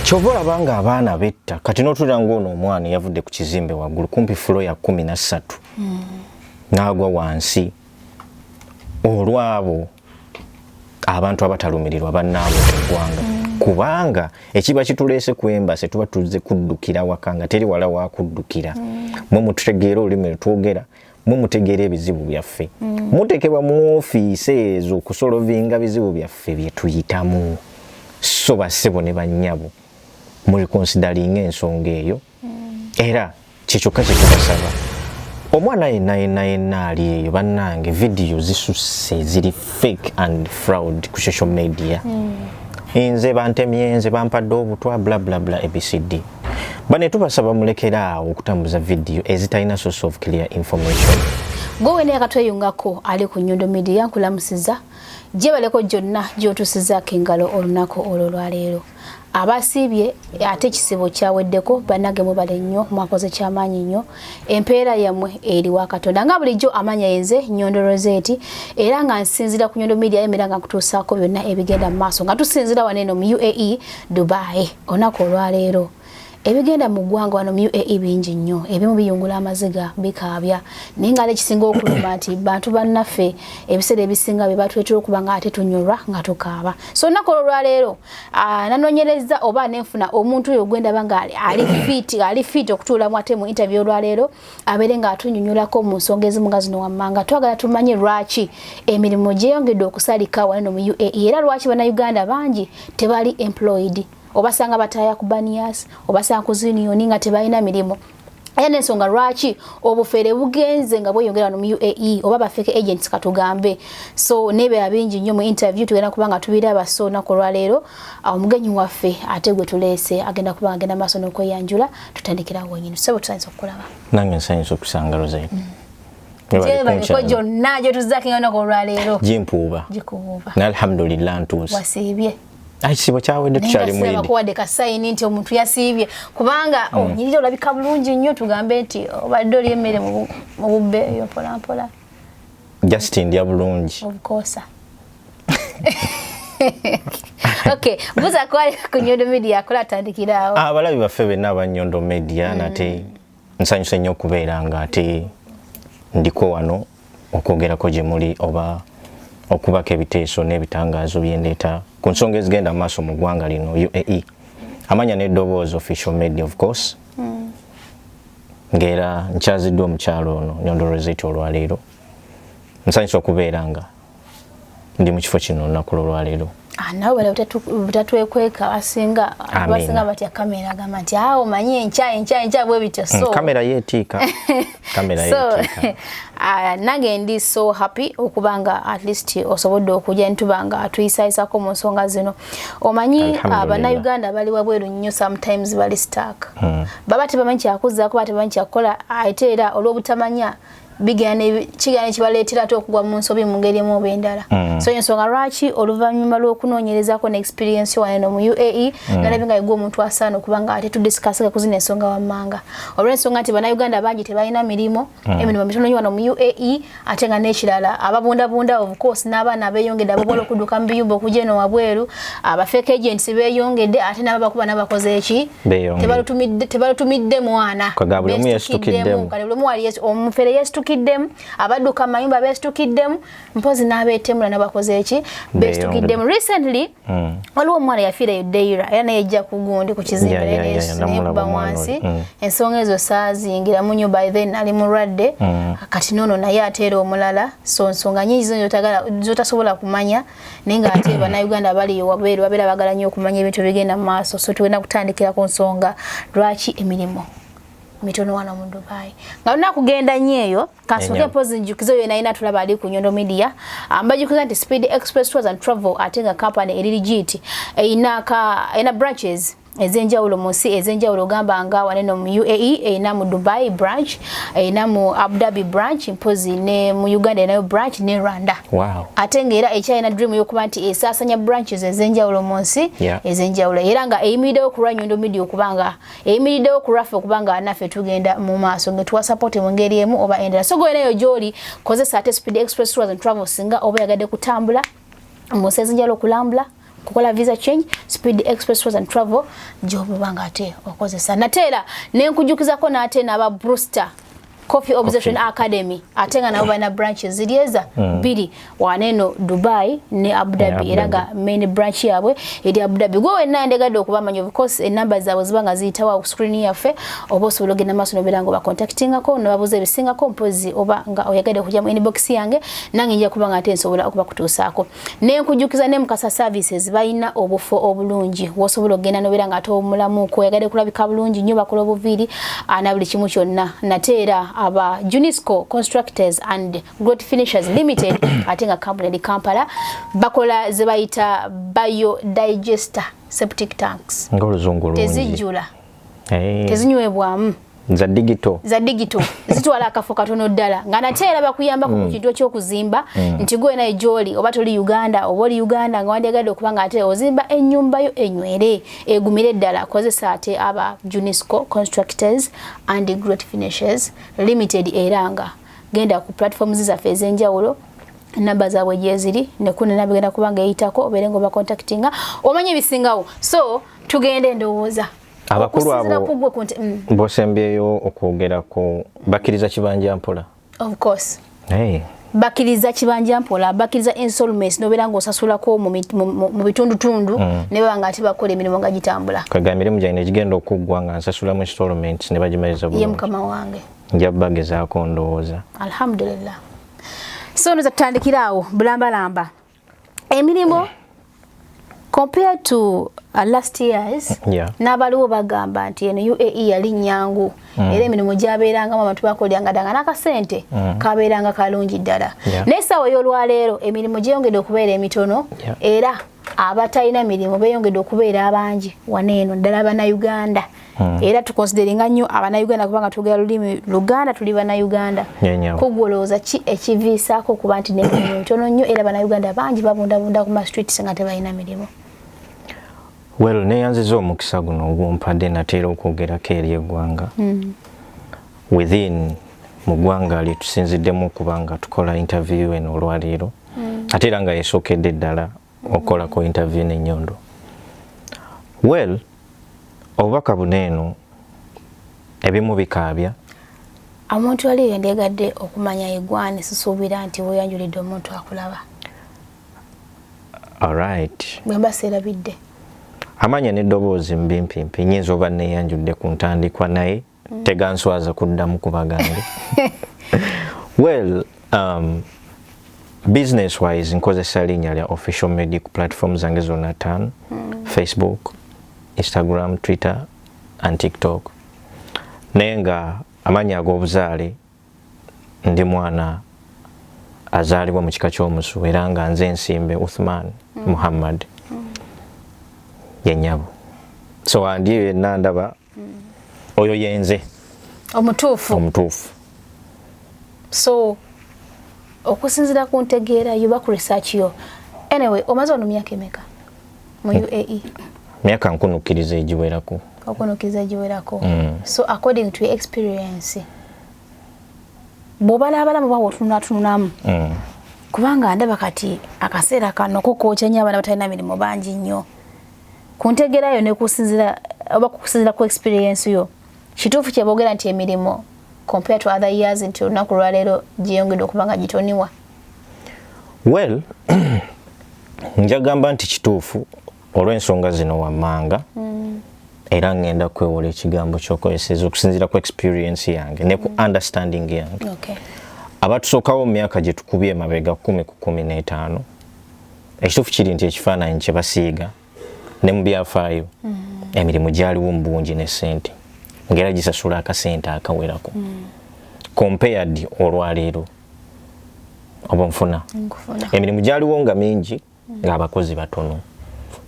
kyova olaba nga abaana betta kati notulira ngaono omwana yavudde ku kizimbe waggulu kumpi fulo ya kumi na ssatu hmm. naagwa wansi olwabo abantu abatalumirirwa bannaabwe mu ggwanga hmm. kubanga ekiba kituleese ku embase tuba tuzze kuddukira waka nga teri wala wakuddukira hmm. mwe mututegeera olulimi lwetwogera mwe mutegeera ebizibu byaffe mm. mutekebwa mu ofiisi ezo okusolovinga bizibu byaffe byetuyitamu so basebo ne banyabo muli konsidalinga ensonga eyo mm. era kyekyokka kyetubasaba omwana yenna yenna yenna ali eyo bannange vidiyo zisusse ziri fake and fraud ku social media mm. nze bantemye nze bampadde obutwa blablabla abcd bane tubasaba mulekere awo okutambuza vidiyo ezitalina source of clear information gwe wena yakatweyungako ali ku nyondo media nkulamusiza gyebaleko gyonna gyotusizaako engalo olunaku olwo lwaleero abasiibye ate ekisibo kyaweddeko banage mubale nnyo mwakoze kyamaanyi nnyo empeera yamwe eri wa katonda nga bulijjo amanya yenze nyondo roseti era nga nsinzira ku nyondo media emera nga nkutuusaako byonna ebigenda mu maaso nga tusinzira wano eno mu uae dubai onaku olwaleero ebigenda mu ggwanga wano mu uae bingi nnyo ebimu biyungula amaziga bikaabya naye nga ekisinga okuluma nti bantu bannaffe ebiseera ebisinga bye batwetera okuba nga ate tunyolwa nga tukaaba so onaku olwaleero Ah, nanonyereza oba nenfuna omuntu oyo gwendaba nga ali fit ali fit okutuula mu ate mu interview olwaleero abeere nga atunyunyulako mu nsonga ezimu nga zino wammanga twagala tumanye lwaki emirimu gyeyongedde okusalika waneno mu uae era lwaki bannayuganda bangi tebali employed obasanga bataaya ku banias obasanga ku zunioni nga tebalina mirimu era nensonga lwaki obufere bugenze nga bweyongera wano mu uae oba bafeke agents katugambe so nebera bingi nnyo mu interview tugenda kuba nga tubiraba so olunaku olwaleero ah, omugenyi waffe ate gwe tuleese agenda kuba nga genda maaso n'okweyanjula tutandikirawo wenyini sebo tusanyusa okukulaba nange nsanyusa okusanga rosain mm. gyebaliko gyonna gyetuzzakinga olunaku olwaleero gimpuuba gikubuuba nalhamdulillah ntuuse wasiibye ekisiibo kyawedde tukyali muyidibakuwadde kasayini nti omuntu yasiibye kubanga hmm. onyirira olabika bulungi nnyo tugambe nti obadde oli emmere mu bubbe eyo mpolampola just ndya bulungi obukoosa okay buza kwali ku nyondo media akola atandikiraawo abalabi ah, baffe benna aba nyondo media hmm. nate nsanyuse nnyo okubeera nga ate ndiko wano okwogerako gye muli oba okubako ebiteeso n'ebitangaazo byendeeta ku nsonga ezigenda mu maaso mu ggwanga lino uae amanya n'eddoboozi official media of course mm. ng'era nkyaziddwa omukyalo ono nyondorozeti olwaleero nsanyusa okubeera nga ndi mu kifo kino olunaku lwolwaleero ah, nawe bala butatwekweka basinga basinga batya kamera agamba nti awo ah, manyi enkya enkya enkya bwe bityo hmm, so kamera yeetiika kamera yeetiika ah, nange ndi so happy okuba nga at least osobodde okujja nituba nga tuyisayisako mu nsonga zino omanyi bannayuganda bali wabweru nnyo sometimes bali stark hmm. baba tebamanyi kyakuzaako baba tebamanyi kyakukola ate era olw'obutamanya kigaana ekibaleetera ate okugwa mu nsobi mu ngeri emu oba endala mm. so ensonga lwaki oluvannyuma lw'okunoonyerezako ne experience wano eno mu uae mm. nalabye nga yegwa omuntu asaana okuba nga ate tudisikasinga ku zino ensonga wammanga olw'ensonga nti bannayuganda bangi tebalina mirimu mm. emirimu mitono nyo wano mu uae ate nga n'ekirala ababundabunda of course n'abaana beeyongedde ababola okudduka mu biyumba okugya eno wabweru abafeeka agents beeyongedde ate nabo bakuba nabakoze eki tebalutumidde mwana omufere yesitukiddemu abadduka mayumba besitukiddemu mpozi nabetemula nabakoze eki besitukiddemu recently mm. waliwo omwana yafiira eyo deira era naye ejja kugundi ku kizimbaekuba wansi mm. ensonga ezo saazingira munyo by then nali mulwadde mm. kati nono naye ateera omulala so nsonga nyingi zino zotasobola kumanya naye nga ate bannayuganda abali wabweru babeera bagala nnyo okumanya ebintu ebigenda mu maaso so tugenda kutandikira ku nsonga lwaki emirimu mitono wano mu dubai nga luna kugenda nnyo eyo kasooke mpozi njukizo oyo nayina tulaba ali ku nyondo media ambajukiza nti speed express tours and travel ate nga company eri ligiiti eyina branches ezenjawulo mu nsi ezenjawulo ogamba nga wane no mu uae erina mu dubai branch erina mu abudabi branch mpozi ne mu uganda erinayo branch ne rwanda wow. ate ngaera ekyalina dream yokuba nti esasanya branches ezenjawulo mu nsi yeah. ezenjawulo era nga eyimiridewo kulwa nyondo media okuba nga eyimiridewo kulwaffe okuba nga naffe tugenda mu maaso ngetuwa support mu ngeri emu oba endala so goenayo gyoli kozesa ate speed express tours and travel singa oba yagadde kutambula mu nsi ezenjawulo okulambula kukola visa change speed express tours and travel gyobuba nga ate okozesa nate era nenkujukizako naate naba bruster coffee observation coffee. academy ate nga nabo balina branches ziryeza mm. bbiri waneeno dubai ne abudhabi yeah, era nga main branch yaabwe eri abudhabi gwe wenna ndegadde okubamanya because enumber zaabwe ziba nga ziyitawa ku screen yaffe oba osobola ogenda maaso nobeera nga obacontactingako nobabuuza ebisingako mpozi oba nga oyagadde okujja mu inbox yange nange nja kuba nga ate nsobola okubakutuusaako nenkujukiza ne mukasa services bayina obufo obulungi wosobola okugenda nobera nga atomulamu ko yagade kulabika bulungi nyo bakola obuviiri ana buli kimu kyonna nate era aba junisco constructors and great finishers limited ate nga kampuni eri kampala bakola zebayita bio digester septic tanks tezijjula hey. Eh. tezinywebwamu za digito za digito zitwala akafo katono ddala nga nate era bakuyamba ku mm. kintu ekyokuzimba mm. nti gwe naye gyoli oba toli uganda oba oli uganda nga wandyagadde okuba nga ate ozimba ennyumba yo enywere egumire ddala kozesa ate aba junisco constructors and great finishes limited era nga genda ku platforms zaffe ez'enjawulo namba zaabwe gyeziri nekunenabigenda kuba nga eyitako obeere nga obakontaktinga omanye ebisingawo so tugenda endowooza abakulu abo mm. bosembyeyo okwogera ku bakiriza kibanja mpola of course hey. bakiriza kibanja mpola bakiriza insolments nobera nga osasulako mu bitundu tundu mm. ne baba nga atiba kola emirimu nga gitambula kaga mirimu jaine gigenda okuggwa nga nsasula mu insolments ne bagimaliza bulungi ye mukama wange nja bagezaako ndowooza alhamdulillah so nza tutandikira awo bulambalamba emirimu compared to uh, last years yeah. n'abaliwo bagamba nti eno UAE yali nyangu mm. era emirimu gyabeerangamu abantu bakoleranga danga n'akasente mm. kabeeranga kalungi ddala yeah. naye essaawa ey'olwaleero emirimu gyeyongedde okubeera emitono yeah. era abatalina mirimu beeyongedde okubeera abangi wano eno ddala bannayuganda yeah. Mm. era tukonsideringa nnyo abanauganda kubanga twogera lulimi luganda tuli banauganda kugwolowooza ki ekiviisaako okuba nti nemirimu mitono nnyo era banauganda bangi babundabunda ku mastreets nga tebalina mirimu well neyanziza omukisa guno ogumpadde nateera okwogerako eri eggwanga mm. within mu ggwanga lyetusinziddemu okuba nga tukola interview eno olwaleero mm. ate era nga yesookedde ddala okola ku interview ne nyondo well obubaka buno eno ebimu bikaabya omuntu wali yendegadde okumanya egwani sisuubira nti weyanjulidde omuntu akulaba alright bwemba seerabidde amanya n'eddoboozi mbimpimpi nyinza oba neyanjudde ku ntandikwa naye mm. teganswaza kuddamu kuba gange well um, business wise nkozesa linnya lya official medic platform zange zonna ttaano mm. facebook instagram twitter and tiktok naye nga amannya ag'obuzaale ndi mwana azaalibwa mu kika ky'omusu era nga nze ensimbe uthman mm. muhammad mm. ye nyabo so andi yenna ndaba mm. oyo yenze omutuufu omutuufu so okusinzira ku ntegeera yo baku research yo anyway omaze ono myaka emeka mu hmm. uae myaka nkunukkiriza egiwerako okunukkiriza egiwerako hmm. so according to experience bwobalaabalamu bawa otununatunulamu hmm. kubanga ndaba kati akaseera kano kokookya nyo abaana batalina mirimu bangi nnyo kuntegera yo nekusinzira oba kukusinzira ku experience yo kituufu kyebogera nti emirimu compare to other years nti olunaku lwaleero gyeyongedde okuba nga gitoniwa well njagamba nti kituufu olw'ensonga zino wammanga mm. era ngenda kwewola ekigambo kyokozeseza okusinzira ku experience yange ne ku mm. understanding yange okay. abatusookawo mu myaka gye tukubye emabega kumi ku kumi n'etaano ekituufu kiri nti ekifaananyi kye basiiga ne mu byafaayo mm. emirimu gyaliwo mu bungi ne ssente ngaera gisasula akasente akawerako mm. compared olwaleero oba nfuna emirimu gyaliwo nga mingi mm. ng'abakozi batono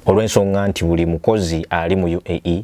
olw'ensonga nti buli mukozi ali mu uae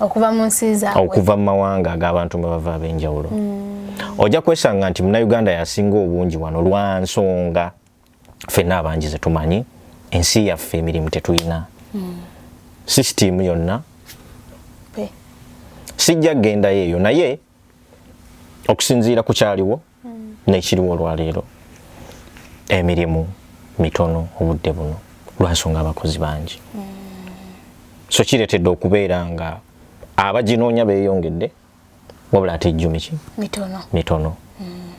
okuva mu nsi zaabwe okuva mu mawanga ag'abantu mwe bava ab'enjawulo mm. ojja kwesanga nti munauganda yasinga obungi wano lwa nsonga ffenna abangi ze tumanyi ensi yaffe emirimu tetulina mm. sisitiimu yonna sijja kgendayo eyo naye okusinziira ku kyaliwo nekiriwo olwaleero emirimu mitono obudde buno lwansonga abakozi bangi so kiretedde okubeera nga abaginoonya beyongedde wabula ate ejjumi ki mitono, mitono. Mm.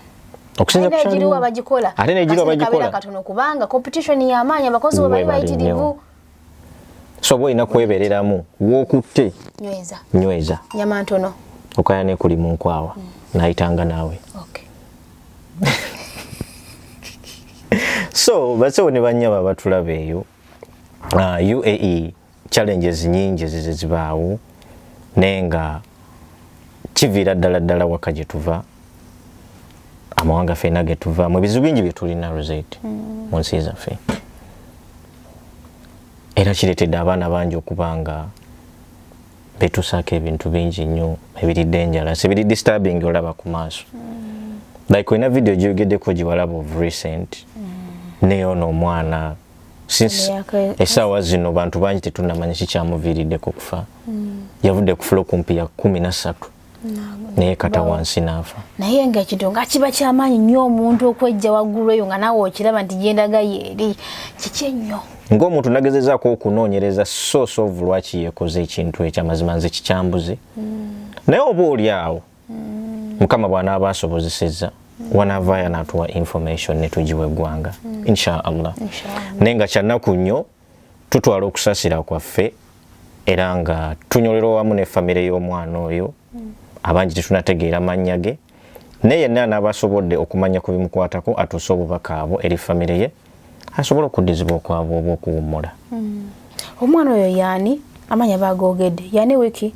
okusinza kukyaliwo ate negiriwo abagikola kubanga competition yamaanyi abakozi webali bayitirivu so boyina kwebereramu wokutte nyweza nyweza nyama ntono okaya ne kuli munkwawa mm. nayitanga nawe okay. so basewo ne banyaba batulabe eyo uh, ah, uae challenges nyingi zizibaawo naye nga kiviira ddala ddala waka gye tuva amawanga fena ge tuva mu bizibu bingi bye tulina rosette mm. mu nsi zaffe era kireetedde abaana bangi okuba nga betusaako ebintu bingi nnyo ebiri dangerous ebiri disturbing olaba ku maaso mm. like olina video gyogeddeko giwalaba of recent mm. neyono omwana since esaawa zino bantu bangi tetunamanya kikyamuviiriddeko okufa mm. yavudde kufula okumpi ya kumi na ssatu naye kata wansi naafa naye nga ekintu nga kiba kyamaanyi nnyo omuntu okwejja waggulu eyo nga naawe okiraba nti gyendaga yeeri kiki ennyo ng'omuntu nagezezaako okunoonyereza source of lwaki yeekoze ekintu ekyo amazima nze kikyambuze hmm. naye oba oli awo hmm. mukama bw'anaaba asobozesezza hmm. wanaavaayo anaatuwa information ne tugiwa eggwanga insha allah naye nga kyannaku nnyo tutwala okusasira kwaffe era nga tunyolera owamu ne famire y'omwana oyo abangi tetunategeera mannya ge naye yenna anaaba asobodde okumanya ku bimukwatako atuuse obubaka abo eri famire ye asobole okuddizibwa okwabwe oba okuwummula hmm. omwana oyo yaani amanya bagoogedde yaani wiki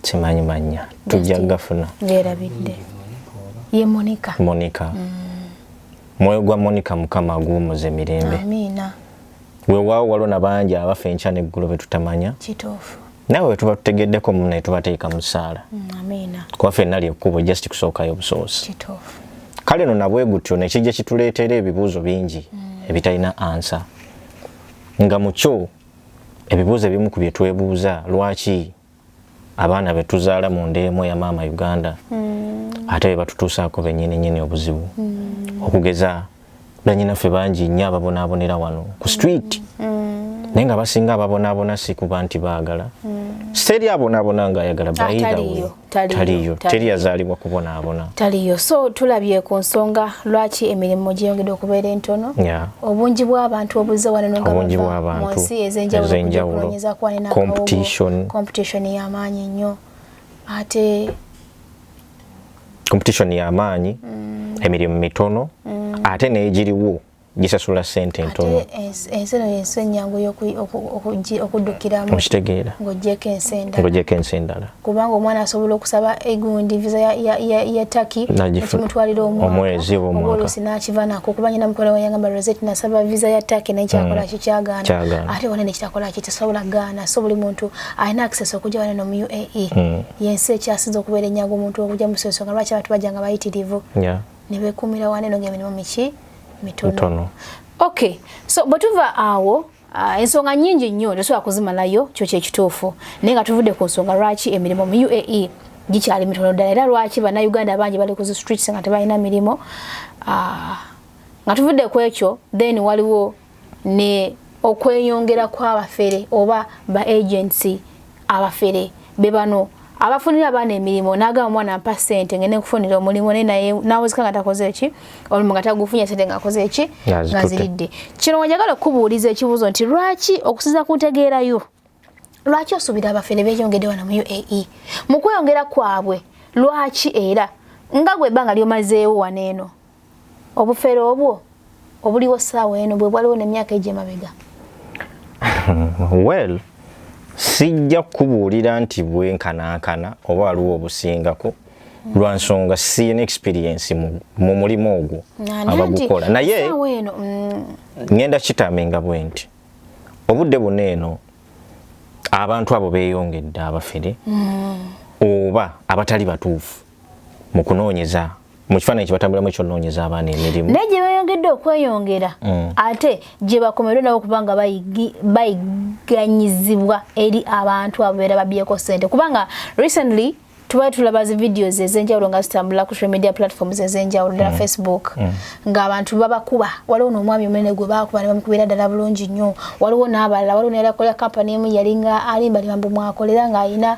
simanyi mannya tujja gafuna ngerabidde ye monika monika mm. mwoyo gwa monika mukama aguwumuze mirembe amiina wewaawo waliwo na bangi abafa enkya neggulu betutamanya kituufu nawe wetuba tutegeddeko mu naye tubateeka mu ssaala mm, amiina kuba fenna lyekkubo just kusookayo busoosi kituufu kale no nabwe gutyo nekijja kituleetera ebibuuzo bingi mm. ebitalina ansa nga mukyo ebibuuzo ebimu ku bye twebuuza lwaki abaana betuzaala mu nda emu eya maama uganda mm. ate bebatutuusaako benyini nyini obuzibu mm. okugeza banyinaffe bangi nnyo ababonaabonera wano ku street mm. naye nga basinga ababonaabona si kuba nti baagala siteri abonaabona nga ayagala bayidawe taliyo teri yazaalibwa kubonaabona taliyo so tulabye ku nsonga lwaki emirimu gyeyongedde okubeera entono yeah. obungi bw'abantu obuze wano nga bava mu nsi ez'enjawulo okunyeza kuba ne competition y'amaanyi nnyo ate competition y'amaanyi mm. emirimu mitono mm. ate n'egiriwo gisasula sente ntono ensi eno yensi ennyangu okudukiramu okitegeera ng'ogyeko ensi endala kubanga omwana asobola okusaba egundi visa ya, ya, ya, ya taki nakimutwalira omwezi obwomwakaolusi nakiva nako kuba nyina mukola wayangamba rosette nasaba visa ya taki naye kyakola mm. kikyagaana ate wana nekitakola ki tesobola gaana so buli muntu alina access okuja wana nomu uae mm. yensi ekyasinza okubeera enyaga omuntu okuja musensonga lwaki abantu bajanga bayitirivu yeah. nebekumira wana eno nga emirimu miki mitono okay so bwetuva awo Uh, ensonga nyingi nnyo tosobola kuzimalayo kyo kyekituufu naye nga tuvudde ku nsonga lwaki emirimu mu uae gikyali mitono ddala era lwaki bannayuganda bangi bali ku zistreets nga tebalina mirimu uh, nga tuvudde ku ekyo then waliwo ne okweyongera kw'abafere oba ba agency abafere bebano abafunira abaana emirimu nagamba omwana mpa sente ngende nkufunira omulimu naye nawozeka nga takoze ki olumu nga tagufunye sente nga akoze ki nga ziridde kino wenjagala okukubuuliza ekibuuzo nti lwaki okusiza ku ntegeerayo lwaki osuubira abafere beyongede wano mu uae mu kweyongera kwabwe lwaki era nga gwe ebbanga lyomazeewo wano eno obufere obwo obuliwo saawa eno bwe bwaliwo nemyaka egyo emabega well sijja kukubuulira nti bwenkanankana oba waliwo obusingako lwa nsonga siyina experiensi mu mulimu ogwo abagukola naye mm. ngenda kitaminga bwe nti obudde buna eno abantu abo beyongedde abafere mm. oba abatali batuufu mu kunoonyeza mu kifaananyi kyebatambulamu ekyonoonyeza abaana emirimu naye gye beeyongedde okweyongera mm. ate gye bakomerwe nabo kubanga bayiganyizibwa eri abantu abo beera babyeko ssente kubanga recently tuba tulaba zi videos ezenjawulo nga zitambula ku social media platforms ezenjawulo ddala mm. facebook mm. ng'abantu babakuba waliwo n'omwami omunene gwe baakuba ne bamukubira ddala bulungi nnyo waliwo n'abalala waliwo neyalakola kampani emu yalinga alimbalimambu mwakolera ng'alina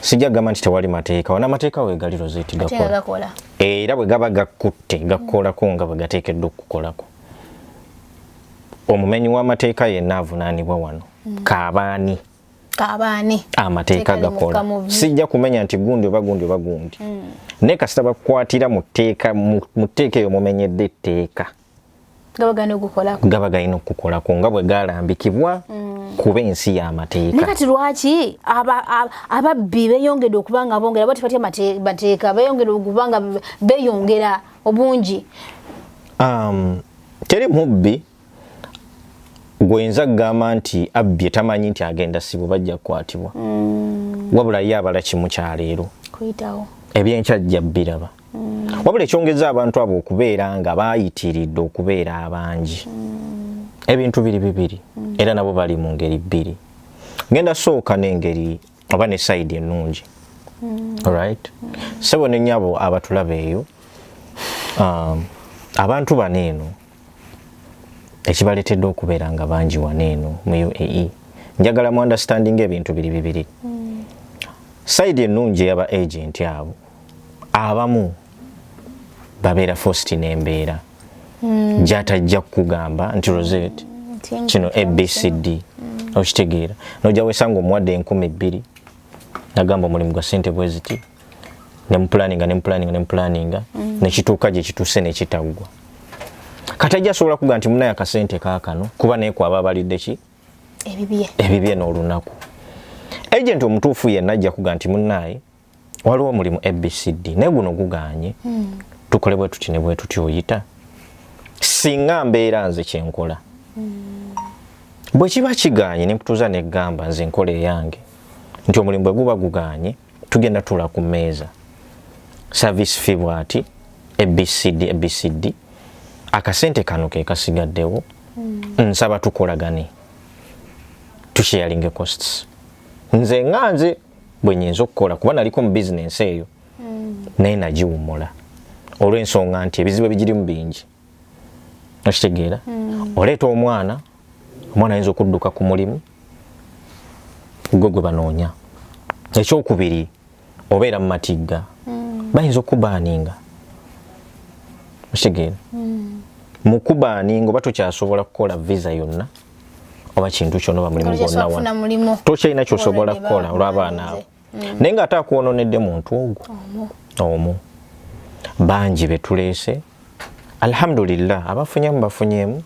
sijja kugamba nti tewali mateeka wana amateeka wegali rozeti gakola era bwe gaba gakutte gakukolako nga bwe gateekeddwa okukukolako omumenyi w'amateeka yenna avunaanibwa wano mm. kaabaani kabaani amateeka gakola sijja kumenya nti gundi oba gundi oba gundi mm. naye kasita bakukwatira mu tteeka eyo mumenyedde etteeka gaba galina okukukolako nga bwe galambikibwa mm. kuba ensi y'amateeka naye kati lwaki ababbi beyongedde okuba nga bongera bati batya mateeka beyongedde okuba nga beyongera obungi um, teri mubbi gwenza kugamba nti abbye tamanyi nti agenda sibu bajja kukwatibwa mm. wabula ye abala kimu kyaleero ebyenkya jja biraba mm. wabula ekyongeza abantu abo okubeera nga bayitiridde okubeera abangi mm. ebintu biri bibiri mm. era nabo bali mu ngeri bbiri ngenda sooka n'engeri oba ne sayidi ennungi mm. right mm. sebo ne nyabo abatulaba eyo um, abantu bano eno ekibaletedde okubeera nga bangi wano eno mu uae njagala mu understanding ebintu biri bibiri mm. sayidi ennungi eyaba agenti abo abamu babeera fosti nembeera hmm. gyatajja kukugamba nti rosette kino abcd hmm. okitegeera noja wesanga omuwadde enkumi bbiri nagamba omulimu gwa sente bweziti nemupulaninga nemupulaninga nemupulaninga hmm. nekituuka gyekituuse nekitaggwa kati ajja asobola kuga nti munaye akasente kakano kuba naye kwaba abalidde ki ebibye n'olunaku agenti omutuufu yenna ajja kuga nti munaye waliwo omulimu abcd naye guno guganye hmm. tukole bwe tuti ne bwe tuti oyita singa mbeera nze kyenkola hmm. bwe kiba kiganye nekutuuza negamba nze nkola eyange nti omulimu bwe guba guganye tugenda tula ku mmeeza service fee bwati abcd abcd akasente kano ke kasigaddewo hmm. nsaba tukolagane tusharinge costs nze nga nze bwe nyinza okukola kuba naliko mu bizinensi eyo hmm. naye nagiwumula olw'ensonga nti ebizibu ebigirimu bingi okitegeera hmm. oleeta omwana omwana ayinza okudduka ku mulimu gwe gwe banoonya ekyokubiri obeera mu matigga hmm. bayinza okukubaaninga okitegeera mu kubaaninga oba tokyasobola kukola visa yonna mm. oba kintu kyona oba mulimu gwonna tokyalina kyosobola kukola olw'abaana abo mm. naye ng'ate akwononedde muntu ogwo omu bangi betuleese alhamdulillah abafunyemu bafunyemu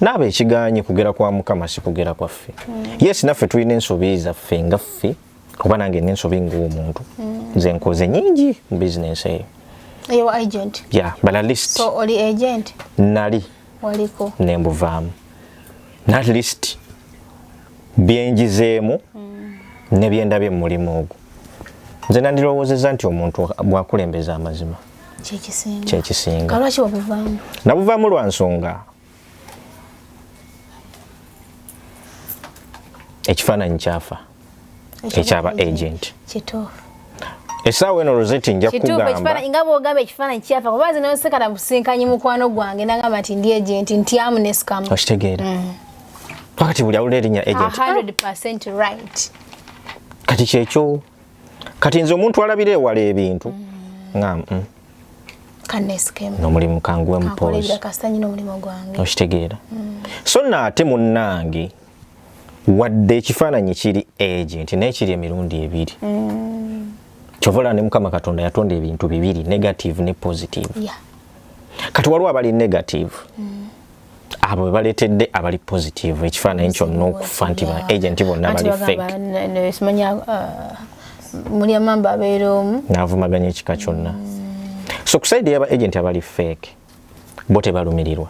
naaba ekiganye kugera kwa mukama si kugera kwaffe mm. yes naffe tulina ensobi zaffe nga ffe kuba nange nensobi ngaomuntu mm. nze nkoze nyingi mu bizinensi eyo nali waliko ne mbuvaamu at least byenjizeemu mm. ne byendabye mu mulimu ogwo nze nandirowoozeza nti omuntu bwakulembeza amazima kyekisinga nabuvaamu lwa nsonga ekifaananyi kyafa ekyaba agent kituufu esaawa eno roseti nja kugamba nga bwogamba ekifaananyi kyafa kuba nze noseka na businkanyi mukwano gwange nagamba nti ndi agent nti amunesikamu okitegeera mm. pakati buli awulira erinnya agent right kati kyekyo kati nze omuntu alabira ewala ebintu mm. nga mm. nomulimu kanguwe mupoozi okitegeera so naate munnange wadde ekifaananyi kiri agent naye kiri emirundi ebiri mm. kyovola ne mukama katonda yatonda ebintu bibiri negative ne positive yeah. kati waliwo abali negative mm. abo bebaleetedde abali positive ekifaananyi kyonna okufa nti ba agent bonna bali fake mulya mamba abeera omu naavumaganya ekika kyonna mm. so kusaidi yaba agent abali fake bo tebalumirirwa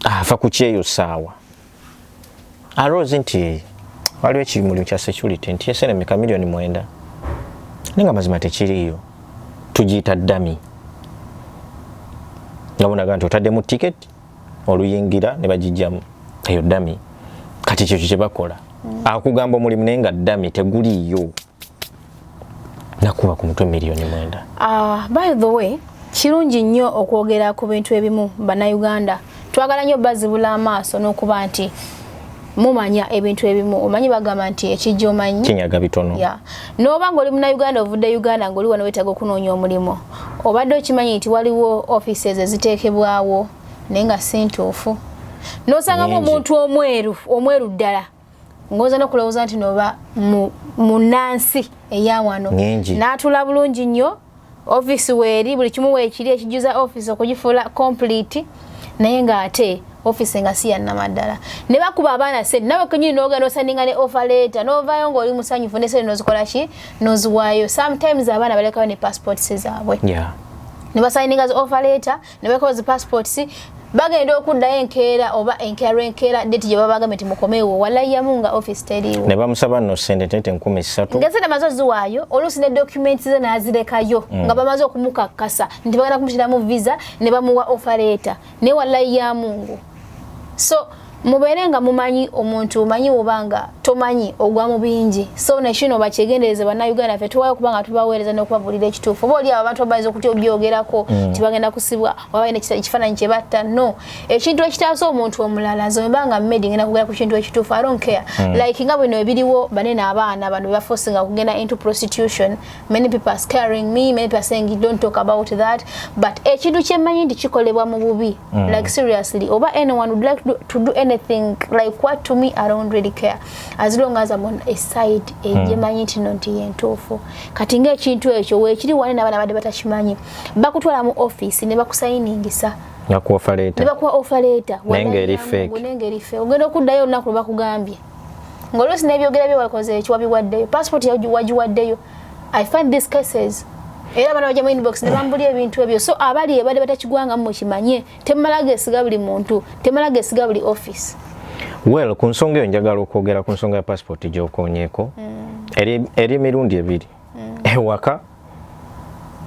afa ah, ku kyeyo saawa aloozi nti waliwo ekimuli kya security nti esenemeka miliyoni mwenda naye nga mazima tekiriiyo tugiyita dami nga bonaga nti otaddemu ticket oluyingira ne bagijjamu eyo dami kati kyekyo kyebakola mm. akugamba omulimu naye nga dami teguliiyo nakuba ku mutwe miliyoni mwenda uh, by the way kirungi nnyo okwogera ku bintu ebimu bannayuganda twagala nnyo bazibula amaaso n'okuba nti mumanya ebintu ebimu omanyi bagamba nti ekijja omanyi kinyaga bitono yeah. noba ngaoli munauganda ovudde uganda ngaoli wano wetaga okunoonya omulimu obadde okimanyi nti waliwo offices eziteekebwawo naye nga si ntuufu nosangamu omuntu omweru omweru ddala ngoza no kulowoza nti noba munansi eyawano natula bulungi nyo office weri buli kimu wekiri ekijuza office okujifula complete naye nga ate office nga siya namadala ne bakuba abana sente nawe kunyini noga no sendinga ne offer letter no vayo ngo oli musanyu fune sente no zikola ki no zuwayo sometimes abana baleka ne passport sezabwe yeah ne basindinga offer letter ne bekola zi passports bagenda okuddayo enkeera oba enkeera lwenkeera deti gye babagambe nti mukomeewo walayamu nga office teriiwo ne bamusaba no sente tete enkumi ssatu nga sente amaze oziwaayo oluusi ne documents ze n'azirekayo mm. nga bamaze okumukakkasa nti bagenda kumutiramu visa ne bamuwa ofaleeta naye walayamu ngu so mubeere nga mumanyi omuntu omanyi obanga tomanyi ogwa mu bingi so nekino bakyegendereze bannayuganda fe tuwayo okuba nga tubaweereza n'okubabuulira ekituufu oba oliawo abantu babayinza okutya obyogerako mm. nti bagenda kusibwa waba ina ekifaananyi kye batta no ekintu ekitaasa omuntu omulala nze wemba nga mmedi ngenda kugera ku kintu ekituufu i don't care mm. like nga bino ebiriwo banene abaana bano bebafosinga okugenda into prostitution many people are scaring me many people are saying you don't talk about that but ekintu kyemanyi nti kikolebwa mu bubi mm. like seriously oba anyone would like to do anything like what to me i don't really care as long as i'm on a side ejemanyi mm. nti no nti yentuufu kati ngaekintu ekyo wekiri wane nabana badde batakimanyi bakutwala mu office ne bakusayiningisa nakuwa ofaleta nakuwa ofaleta nengeri fake nengeri fake ogenda okuddayo olunaku lwebakugambye ngoluusi nebyogera bye wakoze eki wabiwaddeyo passport wagiwaddeyo i find these cases era abana baja mu inbox ne bambuli ebintu ebyo so abali ebade batakigwanga mu kimanye temala gesiga buli muntu temala gesiga buli office well ku nsonga eyo njagala okwogera ku nsonga ya passport gyokonyeko mm. eri emirundi ebiri mm. ewaka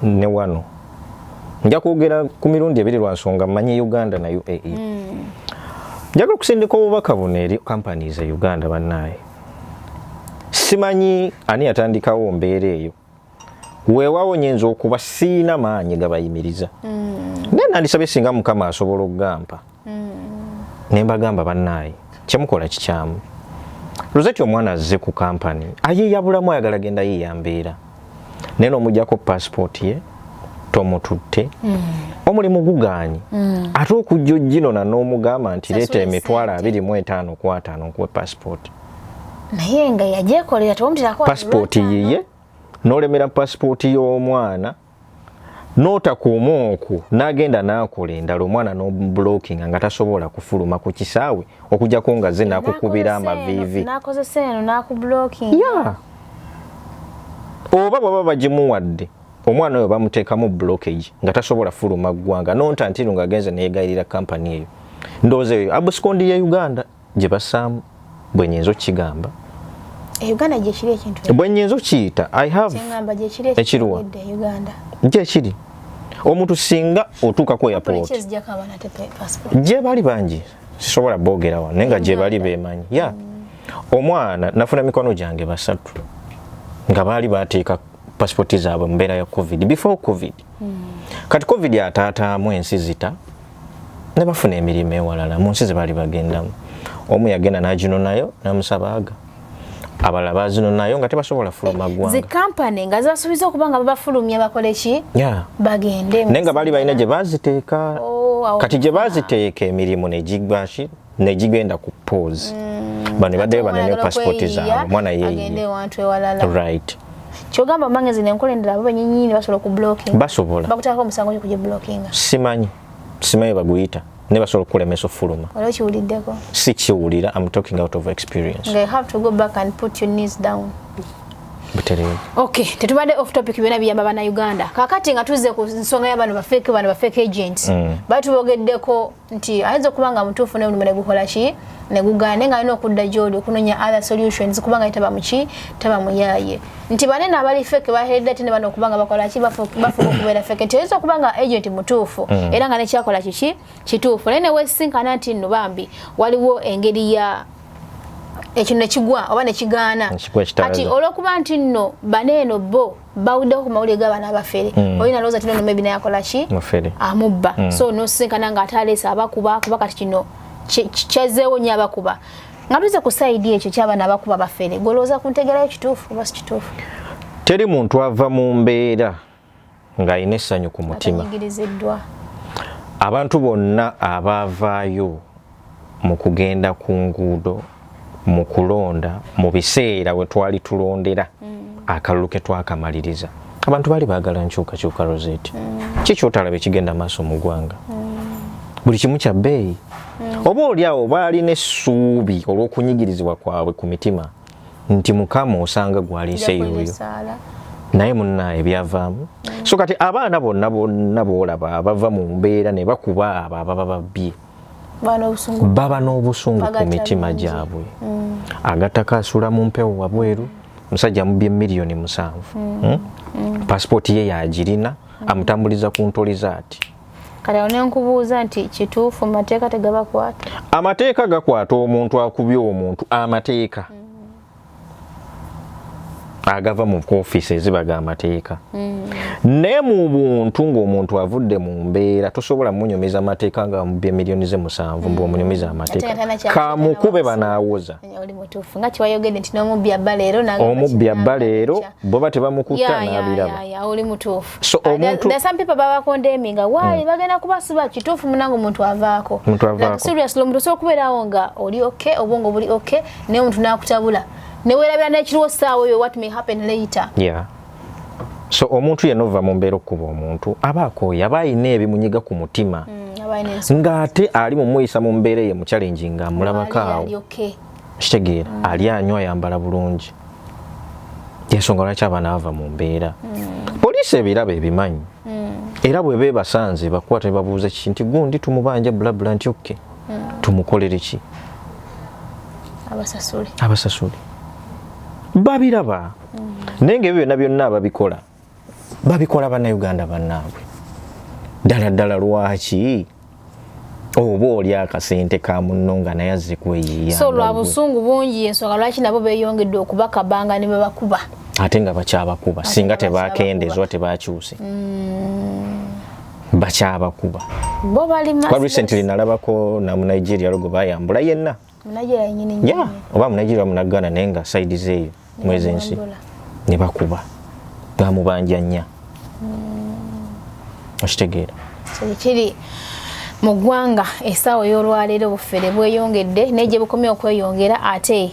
ne wano nja kwogera ku mirundi ebiri lwa nsonga mmanyi uganda na uae mm. njagala okusindika obubaka buno eri kampani ze uganda bannaaye simanyi ani yatandikawo mbeera eyo weewawo nyinza okuba siina maanyi gabayimiriza mm. naye nandisabye singa mukama asobola okugampa mm. mm. ne mbagamba bannaayi kyemukola kikyamu luzeti omwana azze ku kampani ayeyabulamu ayagala genda yeeya mbeera naye nomujjako pasipooti ye tomututte mm. omulimu gugaanyi mm. ate okujja ojinona n'omugamba nti leeta emitwalo abiri mu etaano ku ataano nkuwe pasipooti naye nga yajekolera tewamutira ko passport yiye nolemera passport y'omwana n'otakuuma okwo n'agenda n'akola endala omwana n'obulokinga nga tasobola kufuluma ku kisaawe okujjako nga ze nakukubira amaviivi oba bwaba bagimuwadde omwana oyo bamuteekamu blockage nga tasobola fuluma ggwanga nonta ntino ng'agenze neyegayirira kampani eyo ndowooza eyo abusikondi ye uganda gye basaamu bwe nyinza okukigamba e uganda gyekiri ekintu bwe nyinza okukiyita i have ekiriwa gyekiri omuntu singa otuuka ku airport gye bali bangi sisobola boogera wano naye nga gye bali bemanyi ya mm. omwana nafuna mikono gyange basatu nga baali bateeka pasipoti zaabwe mu mbeera ya covid before covid mm. kati covid ataataamu ensi zita ne bafuna emirimu ewalala mu nsi ze baali bagendamu omu yagenda n'aginonayo n'amusabaaga abalala bazinonayo nga tebasobola fuluma eh, ggwanga zikampani nga zasuubiza okuba nga babafulumya bakole ki bagende naye nga baali balina gye baziteeka oh, kati gye baziteeka emirimu ne gigwaki negigenda ku pause mm. bano ebaddeyo banone passport zaabwe omwana yeyieright kyogamba omangezi nenkola endala bo benyinyini basobola okublocking basobola bakutako omusango gyo kugiblockinga simanyi simanyi baguyita ne basobola okukulemesa okufuluma olwo kiwuliddeko si kiwulira am talking out of experience they have to go back and put your knees down butereevu okay tetubadde off topic byona biyamba bana uganda kakati nga tuzze ku nsonga yabano bafeeke bano bafeeke agents mm. batubogeddeko nti ayinza okuba nga mutuufu ne mulimo ne gukola ki ne gugaana naye nga alina okudda gy'oli okunoonya other solutions kuba nga taba muki taba muyaaye nti banene abali feke baheredde ate ne bano okuba nga bakola ki bafuuka okubeera feke nti oyinza okuba nga agent mutuufu mm. era nga nekyakola kiki kituufu naye newesinkana nti nno bambi waliwo engeri ya ekino nekigwa oba nekigaana kati olwokuba nti nno baneeno bo bawuddeho ku mawulire g'abaana abafere mm. olina lowooza tino nomebi naye akola ki amubba mm. so nosisinkana nga ate aleesa abakuba kuba kati kino kyazeewo nyo abakuba nga tuze ku saidi ekyo kyabaana abakuba bafere gwolowooza ku ntegerayo kituufu oba si kituufu teri muntu ava mu mbeera ng'alina essanyu ku mutima abantu bonna abaavaayo mu kugenda ku nguudo mu kulonda mu biseera we twali tulondera mm. akalulu ke twakamaliriza abantu baali baagala nkyukakyuka rosette mm. ki kyotalabe kigenda maaso mu ggwanga mm. buli kimu kya bbeeyi oba oli awo baalina essuubi olw'okunyigirizibwa kwabwe ku mitima nti mukama osanga gwaliise yoyo naye munaye byavaamu so kati abaana bonna bonna boolaba bava mu mbeera ne bakuba abo ababa babbye baba n'obusungu ku mitima gyabwe mm. agattako asula mu mpewo wabweru musajja mubye miliyoni musanvu mm. Hmm? Mm. pasipooti ye yagirina amutambuliza ku ntoli zaati kati awo nenkubuuza nti kituufu mateeka tegabakwata amateeka gakwata omuntu akubye omuntu amateeka mm. agava mu ofiisi eziba ga mateeka mm. naye mu buntu ng'omuntu avudde mu mbeera tosobola munyumiza mateeka nga mubye miliyoni ze musanvu mbu mm. omunyumiza amateeka kamukube banaawoza omubbi abba leero boba tebamukutta n'abiraba naye omuntu nakutabula newerabira nekiriwo saawa oyo what may happen later yeah. so omuntu yena ova mu mbeera okukuba omuntu aba akooye aba alina ebimunyiga ku mutima mm, ng'ate ali mumuyisa mu mbeera eye mucalengi nga amulabako awo kitegeera mm. ali anywa ayambala bulungi yensonga lwaki abaana bava mu mbeera mm. poliisi ebiraba ebimanyi mm. era bweba ebasanze bakwata nebabuuza kiki nti gundi tumubanja bulabula nti okke mm. tumukolere ki abasasule abasasule babiraba mm. naye ngaebyo byonna byonna ababikola babikola banauganda banaabwe ddala ddala lwaki oba oli akasente ka munno nga naye azze kweyiiya so lwa busungu bungi ensonga lwaki nabo beyongedde okubakabanga ne bebakuba ate nga bakyabakuba singa tebakendezwa tebakyuse mm. bakyabakuba bo bali mass kwa recently nalabako na mu Nigeria logo bayambula yenna Nigeria nyini nyini yeah oba mu Nigeria mu Ghana nenga side zeyo mwezi ensi ne bakuba bamubanja nya mm. okitegeera so kiri mu ggwanga esaawa y'olwaleero obufere bweyongedde naye gye bukomye okweyongera ate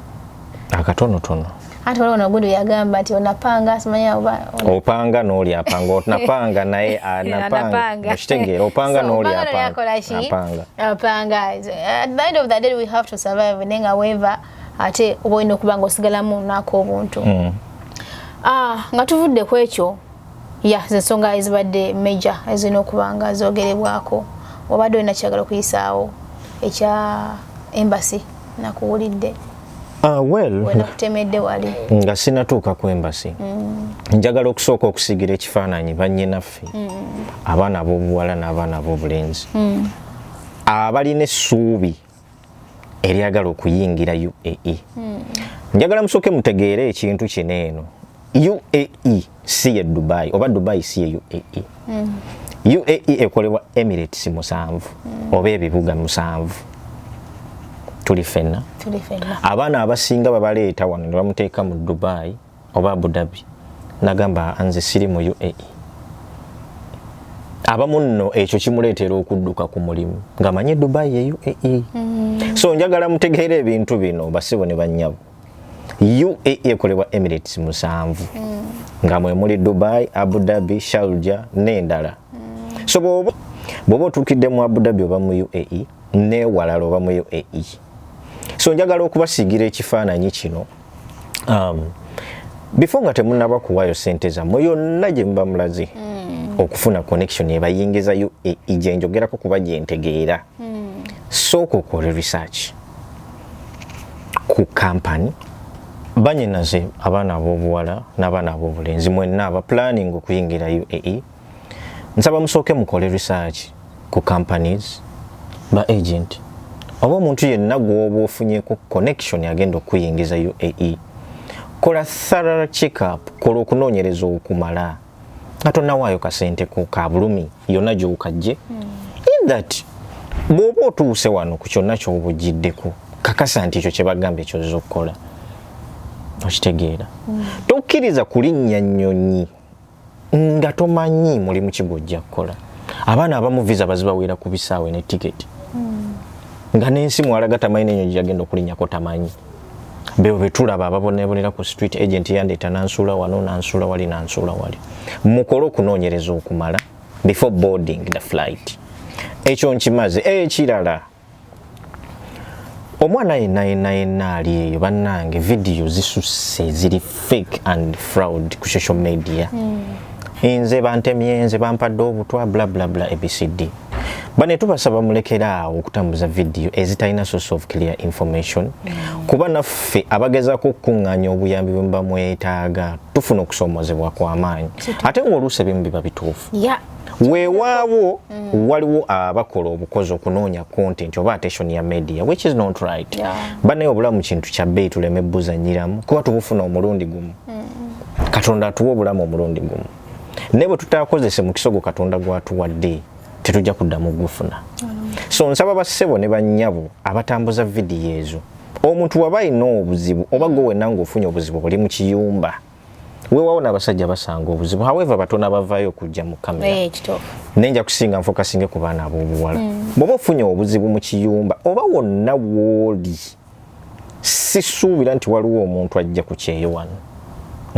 akatonotono ate waliwo nogundi yagamba nti onapanga simanya oba opanga n'oli apanga onapanga naye anapanga ah, okitegeera opanga n'oli apanga apanga at the end of the day we have to survive naye nga weeva ate oba olina okuba nga osigalamu naako obuntu mm. ah, nga tuvudde ku ekyo ya yeah, zensonga ezibadde major ezirina okuba nga zogerebwako obadde olina kyagala okuyisaawo ekya embassy nakuwulidde Uh, well, nga sinatuuka ku embasi mm. njagala okusooka okusigira ekifaananyi bannyinaffe mm. abaana ab'obuwala n'abaana ab'obulenzi mm. abalina essuubi eryagala okuyingira UAE hmm. njagala musooke mutegeere ekintu kino eno UAE si ye Dubai oba Dubai si ye UAE hmm. UAE ekolebwa Emirates musanvu hmm. oba ebibuga musanvu tuli fenna abaana abasinga babaleeta wano ne bamuteeka mu Dubai oba Abu Dhabi nagamba nze siri mu UAE abamu nno ekyo kimuleetera okudduka ku mulimu ng'amanyi e Dubai ye UAE mm. so njagala mutegeera ebintu bino basibo ne bannyabo UAE ekolebwa Emirates musanvu mm. nga mwe muli Dubai, Abu Dhabi, Sharjah n'endala mm. so bwoba bwoba otuukidde mu Abu Dhabi oba mu UAE n'ewalala oba mu UAE so njagala okubasiigira ekifaananyi kino um, before nga temunaba kuwayo sente zamwe yonna gye muba mulaze mm. okufuna connection ebayingiza yo e, e, gye njogerako kuba gye ntegeera mm. sooka okole research ku kampani banyinaze abaana ab'obuwala n'abaana ab'obulenzi mwenna aba planning okuyingira uae nsaba musooke mukole research ku companies ba agent oba omuntu yenna gwoba ofunyeko connection agenda okuyingiza uae kola thorough check up kola okunoonyereza okumala nga tonnawaayo kasente ko ka bulumi yonna gyokajje hmm. in that bw'oba otuuse wano ku kyonna kyoba ojjiddeko kakasa nti ekyo kyebagamba ekyozza okukola okitegeera hmm. tokkiriza kulinnya nnyonyi nga tomanyi mulimu ki gwojja kukola abaana abamu visa bazibawera ku bisaawe ne tiketi hmm. nga n'ensi mwalaga tamanyi nenyo gyeyagenda okulinyako tamanyi bebo betulaba ababonebonera ku street agent yandeeta nansuula wano nansuula wali nansuula wali mukole okunoonyereza okumala before boarding the flight ekyo nkimaze ekirala eh, omwana yenna yenna yenna ali eyo bannange vidiyo zisusse ziri fake and fraud ku social media hmm. nze bantemye nze bampadde obutwa blablabla abcd bane tubasaba mulekeraawo okutambuza vidiyo ezitalina source of clear information hmm. kuba naffe abagezako okukuŋŋaanya obuyambi bwe muba mwetaaga tufuna okusoomoozebwa kw'amaanyi ate ng'oluusi ebimu biba bituufu weewaawo mm. waliwo abakola obukozi okunoonya content oba attention ya media which is not right yeah. banaye obulamu kintu kya bbeeyi tuleme buzanyiramu kuba tubufuna omulundi gumu mm. katonda atuwa obulamu omulundi gumu naye bwe tutakozese mukisa ogwo katonda gwatuwadde tetujja kuddamu gufuna mm. so nsaba bassebo ne bannyabo abatambuza vidiyo ezo omuntu waba alina obuzibu oba gwe wenna ng'ofunye obuzibu buli mu kiyumba wewawo nabasajja basanga obuzibu however batona bavayo okujja mu kamera eh, nenja kusinga nfoka singe ku baana abobuwala mm. bwoba ofunye obuzibu mu kiyumba oba wonna wooli sisuubira nti waliwo omuntu ajja ku kyeyo wano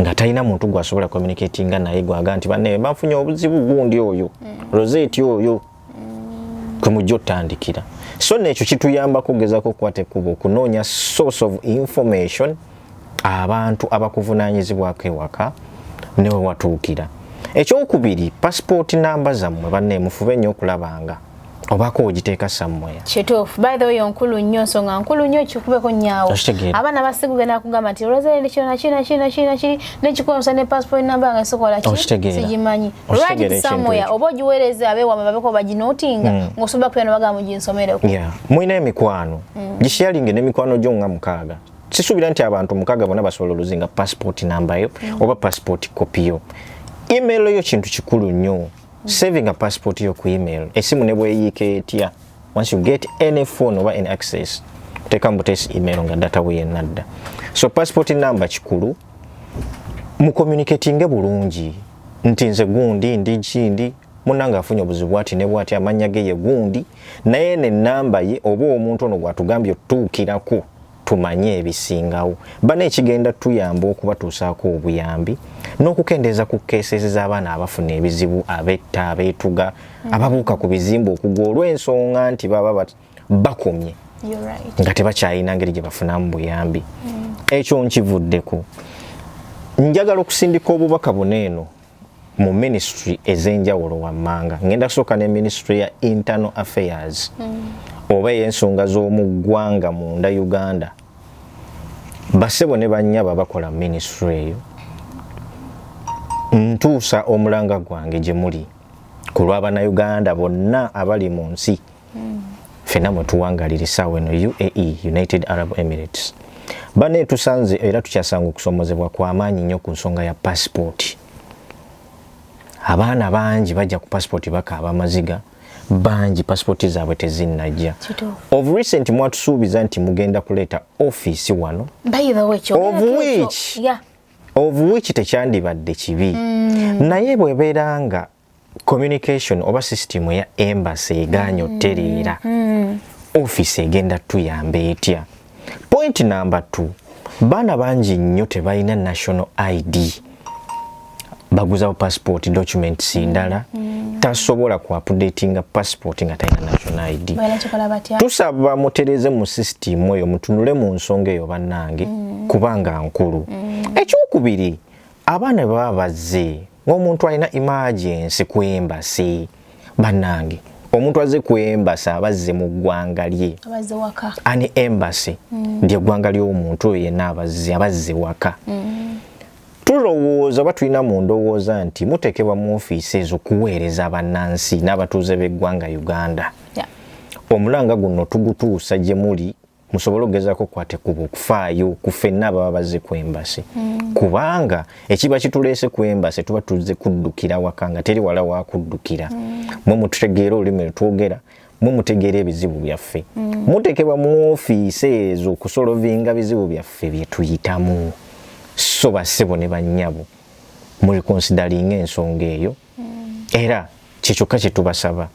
nga talina muntu gwasobola communicatinga naye gwaga nti bane bafunye obuzibu gundi oyo mm. roseti oyo kwe mujja otandikira so nekyo kituyambako okugezako okukwata ekkubo okunoonya source of information abantu abakuvunanyizibwako ewaka newe watuukira ekyokubiri pasipooti namba zammwe banne mufube nnyo okulabanga obako ogiteeka sammoya kituufu by the way onkulu nnyo nsonga nkulu nnyo kikubeko nyaawo abaana basigugenda kugamba nti olwozere ndi kyona kina kina kina kiri nekikuwa omusa ne passport namba nga sikolaki sigimanyi lwaki kisamoya oba ogiweereza abewama babeko baginotinga mm. ngaosobola kubeera nobaga mu ginsomereko yeah. mulina emikwano mm. gisharinge nemikwano gyo nga mukaaga sisuubira nti abantu mukaaga bona basobola oluzinga passport nambayo mm. oba passport kopiyo email yo kintu kikulu nnyo mm. saving a passport yo ku email esimu ne bweyiika etya once you get any phone oba any access teka mbutesi email nga data weyenadda so passport number kikulu mu communicatinge bulungi nti nze gundi ndi kindi munange afunye obuzibu ati ne bwati amanya ge ye gundi naye ne namba ye oba omuntu ono gwatugambye otutuukirako tumanye ebisingawo bana ekigenda tuyamba okubatuusaako obuyambi n'okukendeeza ku keesezi z'abaana abafuna ebizibu abetta abeetuga ababuuka ku bizimba okugwa olw'ensonga nti baba bakomye nga tebakyalina ngeri gye bafunamu buyambi mm. ekyo nkivuddeko njagala okusindika obubaka buno eno mu ministry ez'enjawulo wammanga ngenda kusooka ne ministry ya internal affairs mm. oba ey'ensonga z'omu ggwanga munda uganda basebo ne banyaba bakola ministry eyo ntuusa omulanga gwange gye muli ku lw'abanauganda bonna abali mu nsi mm. fena mwetuwangalira esaawa eno uae united arab emirates bane tusanze era tukyasanga okusomozebwa kwamaanyi nnyo ku nsonga ya pasipooti abaana bangi bajja ku pasipooti bakaaba amaziga bangi pasipooti zaabwe tezinnajja of recent mwatusuubiza nti mugenda kuleeta ofiisi wano of which yeah. of which tekyandibadde kibi mm. naye bwebeera nga communication oba system ya embassy eganyo mm. tereera mm. office egenda tuyamba etya point number 2 baana bangi nnyo tebalina national id baguzawo passport documents ndala mm. tasobola ku updatinga passport nga talina national id tusaba mutereze mu system oyo mutunule mu nsonga eyo bannange mm. kubanga nkulu mm. ekyokubiri abaana bwe baba bazze ng'omuntu alina imagensi ku embasi bannange omuntu azze ku embasi aba azze mu ggwanga lye ani embasi mm. lyeggwanga ly'omuntu oyo yenna abazze aba azze waka mm. tulowooza oba tulina mu ndowooza nti muteekebwa mu ofiisi ezo kuweereza bannansi n'abatuuze b'eggwanga uganda omulanga guno tugutuusa gye muli musobole okugezaako okukwata ekkubo okufaayo ku fenna ababa bazze ku embasi mm. kubanga ekiba kituleese ku embasi tuba tuzze kuddukira waka nga teri wala wakuddukira mm. mwe mututegeera olulimi lwetwogera mwe mutegeera ebizibu byaffe mm. mutekebwa mu ofiisi ezo okusolovinga bizibu byaffe byetuyitamu so basebo ne bannyabo mulikonsidalinga ensonga eyo mm. era kyekyokka kyetubasaba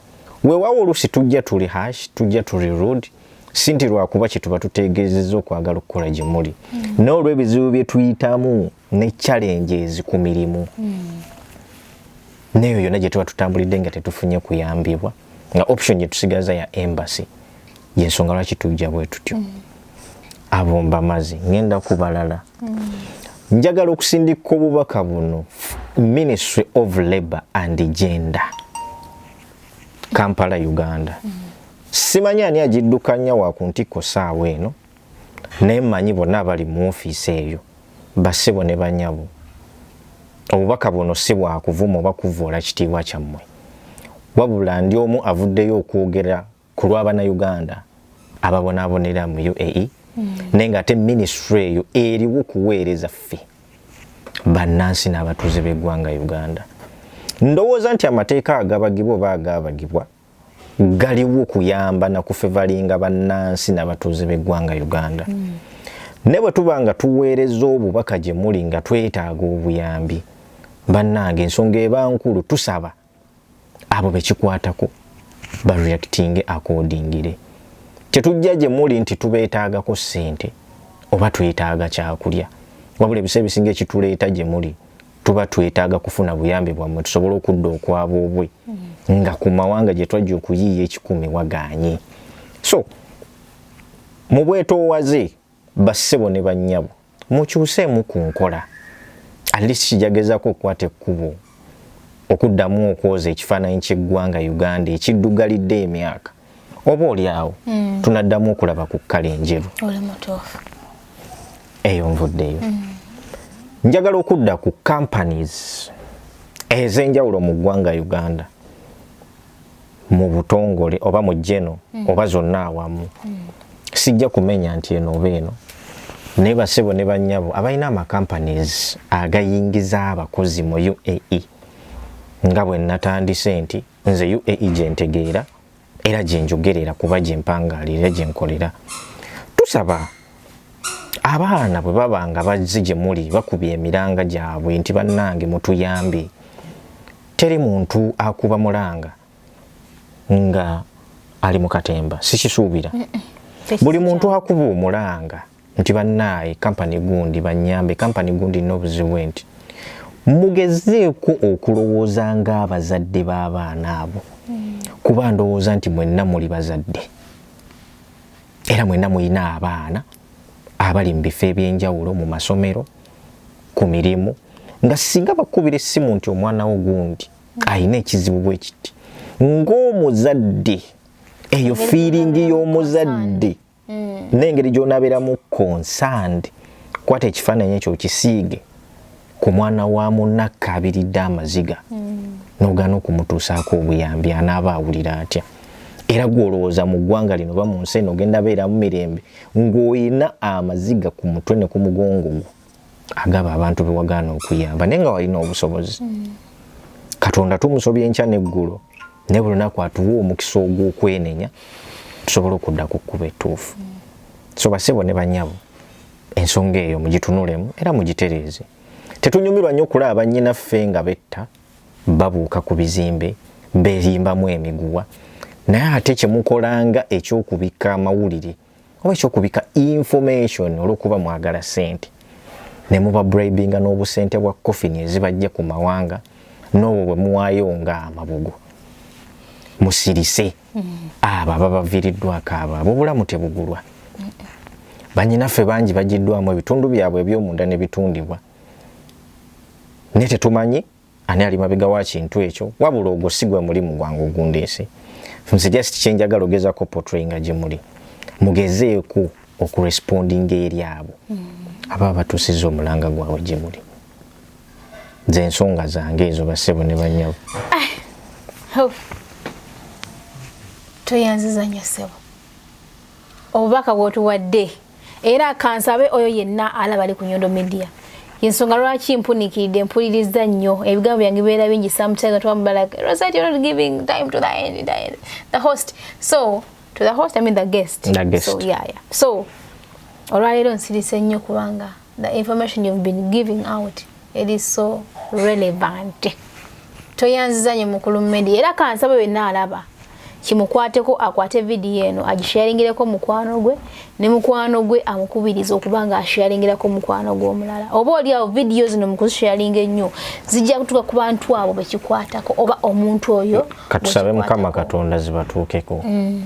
wewawo olusi tujja tuli hash tujja tuli rod sinti lwakuba kyetuba tutegezeza okwagala okukola gyemuli mm. nolwebizibu byetuyitamu ne challenges ku mirimu mm. neyo yona gyetuba tutambulidde nga tetufunye kuyambibwa nga option gyetusigaza ya embassy yensonga lwaki tujja bwetutyo mm. abumba mazi ngenda kubalala njagala okusindika obubaka buno ministry of labor and gender kampala uganda simanyi ani agiddukanya wa ku ntikko saawa eno naye manyi bonna abali mu ofiisi eyo basebo ne banyabo obubaka buno si bwakuvuma oba kuvvoola kitiibwa kyammwe wabula ndi omu avuddeyo okwogera ku lwa bannayuganda ababonaabonera mu uae mm. naye nga ate minisitule eyo eriwo kuweereza ffe bannansi n'abatuuze b'eggwanga uganda ndowooza nti amateeka agabagibwa oba agaabagibwa galiwo kuyamba na kufevalinga bannansi n'abatuuze b'eggwanga uganda mm. ne bwe tuba nga tuweereza obubaka gye muli nga twetaaga obuyambi bannange ensonga eba nkulu tusaba abo bekikwatako bareactinge akodingire tetujja gye muli nti tubeetaagako ssente oba twetaaga kyakulya wabula ebiseera ebisinga ekituleeta gye muli tuba twetaaga kufuna buyambi bwammwe tusobole okudda okwaboobwe mm. nga ku mawanga gye twajja okuyiiya ekikumi waganye so mu bwetoowaze Bassebo ne bannyabo, mukyuseemu ku nkola. At least Kija gezaako okukwata ekkubo okuddamu okwoza ekifaananyi ky'eggwanga Uganda ekiddugalidde emyaka. Oba oli awo mm. tunaddamu okulaba ku kkala enjeru. Oli mutuufu. Eyo nvuddeyo. Mm. Njagala okudda ku companies ez'enjawulo mu ggwanga Uganda. mu butongole oba mu jeno mm. oba zonna awamu mm. sijja kumenya nti eno oba eno naye basebo ne banyabo abalina amacompanies agayingiza abakozi mu uae nga bwe natandise nti nze uae gyentegeera era gyenjogerera kuba gyempangaalira gyenkolera tusaba abaana bwe baba nga bazze gye muli bakubye emiranga gyabwe nti bannange mutuyambe Teri muntu akuba mulanga nga ali mu katemba sikisuubira. Buli muntu akuba omulanga nti bannaaye kampani gundi bannyambe kampani gundi nina obuzibu nti mugezeeko okulowooza ng'abazadde b'abaana abo hmm. kuba ndowooza nti mwenna muli bazadde era mwenna mulina abaana abali mu bifo eby'enjawulo mu masomero ku mirimu nga singa bakubira essimu nti omwana wo gundi alina ekizibu bwe kiti ng'omuzadde eyo fiiringi y'omuzadde mm. n'engeri gy'onabeeramu konsandi kwata ekifaananyi ekyo okisiige ku mwana wa munakka abiridde amaziga mm. n'ogaana okumutuusaako obuyambi anaaba awulira atya era gwolowooza mu ggwanga lino ba mu nsi eno ogenda beeramu mirembe ng'olina amaziga ku mutwe ne ku mugongo gwo agaba abantu be wagaana okuyamba naye nga walina obusobozi katonda tumusobya enkya n'eggulo ne buli lunaku atuwa omukisa ogw'okwenenya tusobole okudda ku kkuba ettuufu so basebo ne banyabo ensonga eyo mugitunulemu era mugitereeze tetunyumirwa nnyo okulaba bannyinaffe nga betta babuuka ku bizimbe beerimbamu emiguwa naye ate kye mukola nga eky'okubikka amawulire oba eky'okubika information olw'okuba mwagala ssente ne muba bribinga n'obusente bwa coffin ezibajja ku mawanga n'obwo bwe muwaayo nga amabugo musirise abo ababaviiriddwako abo abo obulamu tebugulwa banyinaffe bangi bagiddwamu ebitundu byabwe eby'omunda ne bitundibwa naye tetumanyi ani ali mabega wa kintu ekyo wabula ogwo si gwe mulimu gwange ogundeese nze just kyenjagala ogezako potrayinga gye muli mugezeeko okurespondinga eri abo mm. aba abatusiza omulanga gwabwe gye muli nze ensonga zange ezo basebo ne banyabo ah, toyanziza nnyo sebo obubaka bwotuwadde era kansabe oyo yenna alaba ali ku nyondo media yensonga lwaki mpunikiridde mpuliriza nnyo ebigambo byange bibeera bingi sometimes twamubalaga rosette you're not giving time to the end, the end the host so to the host i mean the guest, the guest. so yeah, yeah. so olwaleero nsirise nnyo kubanga the information you've been giving out it is so relevant toyanziza nyo mukulu media era kansaba wenna alaba kimukwateko akwate vidiyo eno agisharingireko mukwano gwe ne mukwano gwe amukubiriza okuba nga asharingirako mukwano gwe omulala oba oli awo vidiyo zino mukuzisharinga ennyo zijja kutuka ku bantu abo bekikwatako oba omuntu oyo katusabe mukama katonda zibatuukeko mm.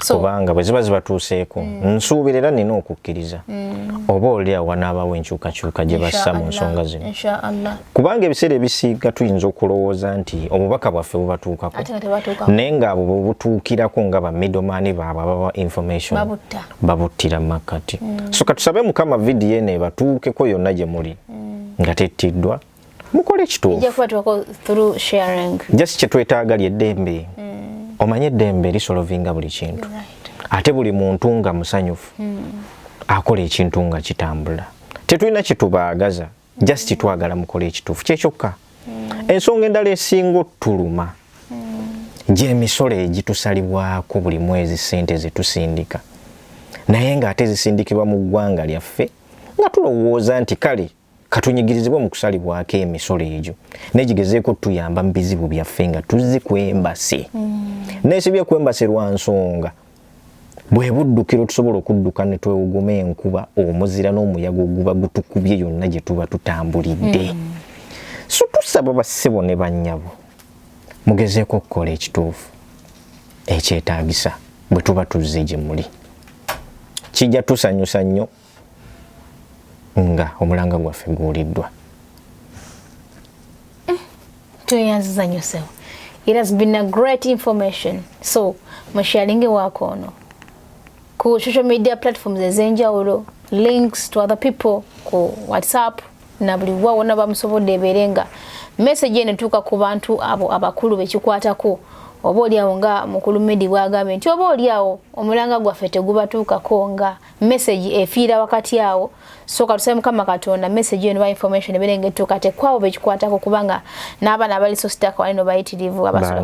kubanga bwe ziba zibatuuseeko mm. nsuubira era nina okukkiriza mm. oba oli awo wanaabaawo enkyukakyuka gye bassa mu nsonga zino kubanga ebiseera ebisiiga tuyinza okulowooza nti obubaka bwaffe bubatuukako naye ngaabo bwebutuukirako nga bamidomani baabwe ababa information babuttira mu makkati mm. so katusabe mukama vidiyo eno ebatuukeko yonna gye muli nga tettiddwa mukole kituufu just kyetwetaaga lyeddembe mm. omanye eddembe lisolovinga buli kintu ate buli muntu nga musanyufu mm. akola ekintu nga kitambula tetulina kitubaagaza just mm. twagala mukole ekituufu kyekyokka ensonga endala esinga otuluma gyemisolo egitusalibwako buli mwezi sente zetusindika naye nga ate zisindikibwa mu ggwanga lyaffe nga tulowooza nti kale katunyigirizibwe mu kusalibwako emisolo egyo naye gigezeeko tuyamba mu bizibu byaffe nga tuzzi ku embasi mm. nesibye ku embasi lwa nsonga bwe buddukiro tusobola okudduka ne twewuguma enkuba omuzira n'omuyaga oguba gutukubye yonna gye tuba tutambulidde mm. so tusaba bassebo ne bannyabo mugezeeko okukola ekituufu ekyetaagisa bwe tuba tuzze gye muli kijja tusanyusa nnyo nga omulanga gwaffe guwuliddwa eh, tweyanziza nyo sewo it has been a great information so musharinge wako ono ku social media platforms ezenjawulo links to other people ku whatsapp na buli wa wona bamusobodde ebeere nga message eno tuuka ku bantu abo abakulu bekikwatako oba olyawo nga mukulu medi bwagambye nti oba olyawo omulanga gwaffe tegubatuukako nga message efiira wakati awo so katusaba mukama katonda message eno ba information ebere ngetuka te kwabo bekikwata ko kubanga naba na bali so stack wali no bayitirivu abasala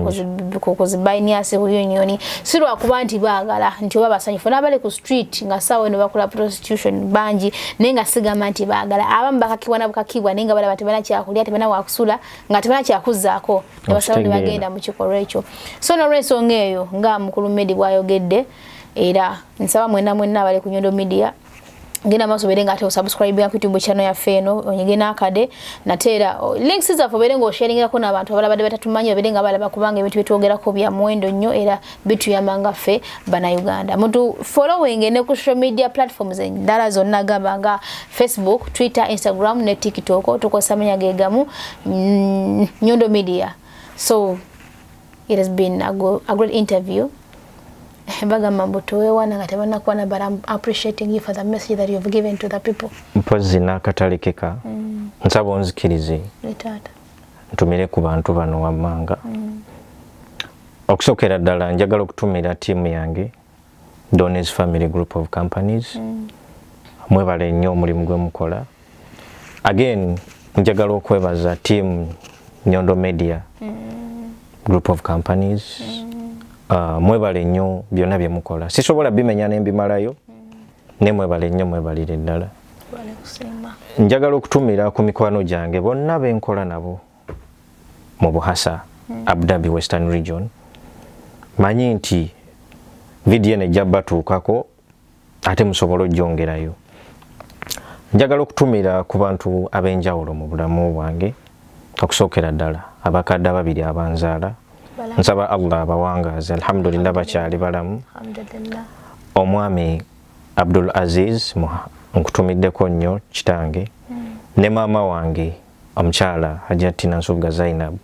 ko ko zibaini ase huyo nyoni sirwa kuba nti bagala nti oba basanyi fona bali ku street nga sawe no bakula prostitution banji nenga siga manti bagala abam bakakibwa na bukakibwa nenga bala batibana kya kulya tibana wa kusula nga tibana kya kuzako abasala ni bagenda mu kikoro echo so no reso ngeyo nga mukulu medi bwayogedde era nsaba mwena mwena abali ku nyondo media genda maso bere nga ate osubscribe ku YouTube channel ya Feno onyige na kade na tera links za fo bere ngo sharing ko na bantu abalabade batatumanya bere nga balaba kubanga ebintu bitwogera ko bya mwendo nnyo era bitu ya manga fe bana Uganda mutu following ne ku social media platforms endala zonna gaba nga Facebook Twitter Instagram ne TikTok tukosa menya gegamu mm, nyondo media so it has been a, go, a great interview bagamba mbu tewewana nga tebanakuwana but I'm appreciating you for the message that you've given to the people mpozzi n'akatalekeka mm. nsaba onzikirize ntumire ku bantu bano wammanga mm. okusookera ddala njagala okutumira tiimu yange donors family group of companies mm. mwebale nnyo omulimu gwe mukola again njagala okwebaza team nyondo media mm. group of companies mm. uh, mwebale nnyo byonna bye mukola sisobola bimenya ne mbimalayo mm. ne mwebale nnyo mwebalire ddala njagala okutumira ku mikwano gyange bonna be nkola nabo mu buhasa mm. abu dhabi western region manyi nti vidiyo eno ejja batuukako ate musobole ojongerayo njagala okutumira ku bantu ab'enjawulo mu bulamu bwange okusookera ddala abakadde ababiri abanzaala nsaba allah abawangaaze alhamdulillah bakyali balamu omwami abdul aziz nkutumiddeko nnyo kitange hmm. ne maama wange Omukyala Hajjat Tina Nsugga Zainab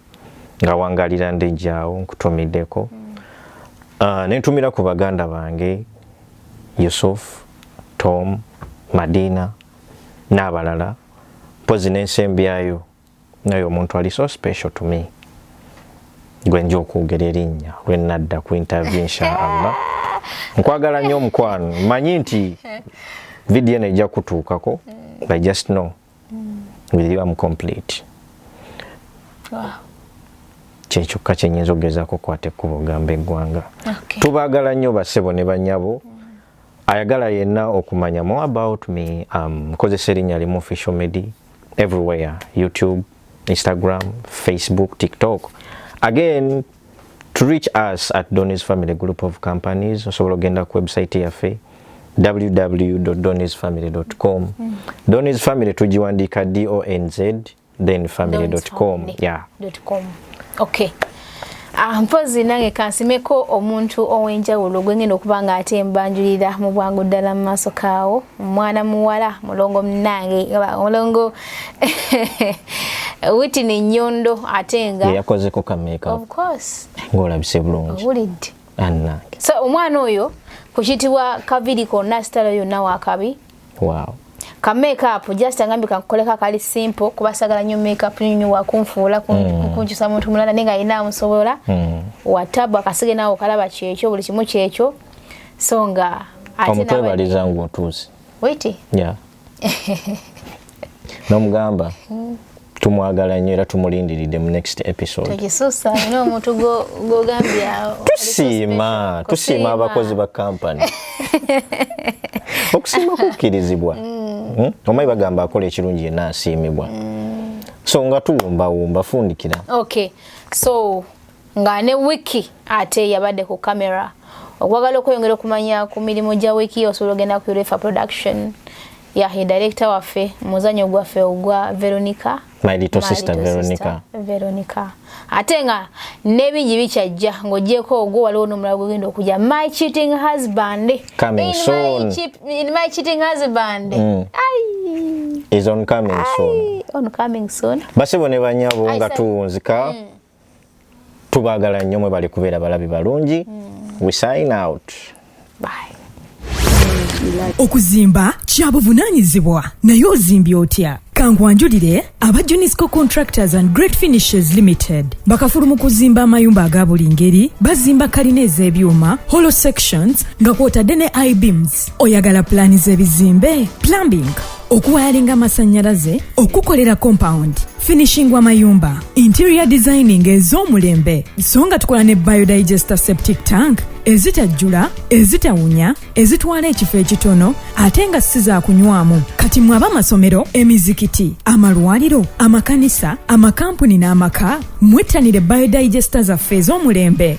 nga wangalira ndejjaawo nkutumiddeko mm. uh, nentumira ku baganda bange Yusuf, Tom, Madina n'abalala mpozi n'ensembi yayo naye omuntu ali so special to me gwe nja okwogera erinnya lwe nadda ku interview inshaallah nkwagala nnyo omukwano manyi nti vidiyo eno ejja kutuukako mm. i just know mm. with you am complete kyekyokka kyenyinza okugezaako okukwata ekkubo gamba eggwanga tubagala nnyo basebo ne banyabo mm. ayagala yenna okumanya more about me um, nkozesa um, erinnya limu official medi everywhere youtube Instagram, Facebook, TikTok. Again, to reach us at Donny's Family Group of Companies, osobola ogenda ku website yaffe www.donny'sfamily.com. Mm. Donny's Family tujiwandika D O N Z then family.com. Yeah. .com. Okay. Ah, mpozi nange kansimeko omuntu ow'enjawulo gwe ngenda okuba nga ate mbanjulira mu bwangu ddala mu maaso kaawo omwana muwala mulongo munange mulongo witini nyondo ate nga yakozeko kameeka ng'olabise bulungi wulidde so omwana oyo ku kitibwa kaviri konna sitala yonna wakabi wow ka makeup just angambi kankoleka kali simple kuba sagala nyo makeup nyo nyo wakunfuula mm. kunjusa muntu mulala ninga ina amusobola mm. watabu akasige nawo kalaba kyekyo buli kimu kyekyo songa ate na mutwe balizangu otuzi wait yeah nomugamba hmm. tumwagala nnyo era tumulindiridde mu next episodetusiima tusiima abakozi ba kampany okusiima kukkirizibwa hmm. hmm? omayi bagamba akola ekirungi yena asiimibwa so nga tuwumbawumba fundikira okay so nga ne wiki ate yabadde ku camera okwagala okweyongera okumanya ku mirimu gya wiki osobola ogenda ku urefa production yahe director waffe muzanyo gwaffe ogwa veronica my little sister veronica veronica ate nga nebingi bikyajja ng'ogyeko ogwo waliwo n'omulala gwegenda okujja my cheating husband coming soon in my cheating husband mm. is on coming soon on coming soon basebo ne banyabo nga tuwunzika mm. tubagala nnyo mwebale kubeera balabi balungi mm. we sign out Bye. okuzimba kya buvunaanyizibwa naye ozimbye otya kankwanjulire aba junisco contractors and great finishes limited bakafulu mu kuzimba amayumba aga buli ngeri bazimba kalina ez'ebyuma hollow sections nga kwotadde ne ibeams oyagala pulaani z'ebizimbe plumbing okuwayalinga amasannyalaze okukolera compound finishing w'amayumba interior designing ez'omulembe so nga tukola ne biodigester septic tank ezitajjula ezitawunya ezitwala ekifo ekitono ate nga si za kunywamu kati mwe abamasomero emizikiti amalwaliro amakanisa amakampuni n'amaka mwettanire biodigester zaffe ez'omulembe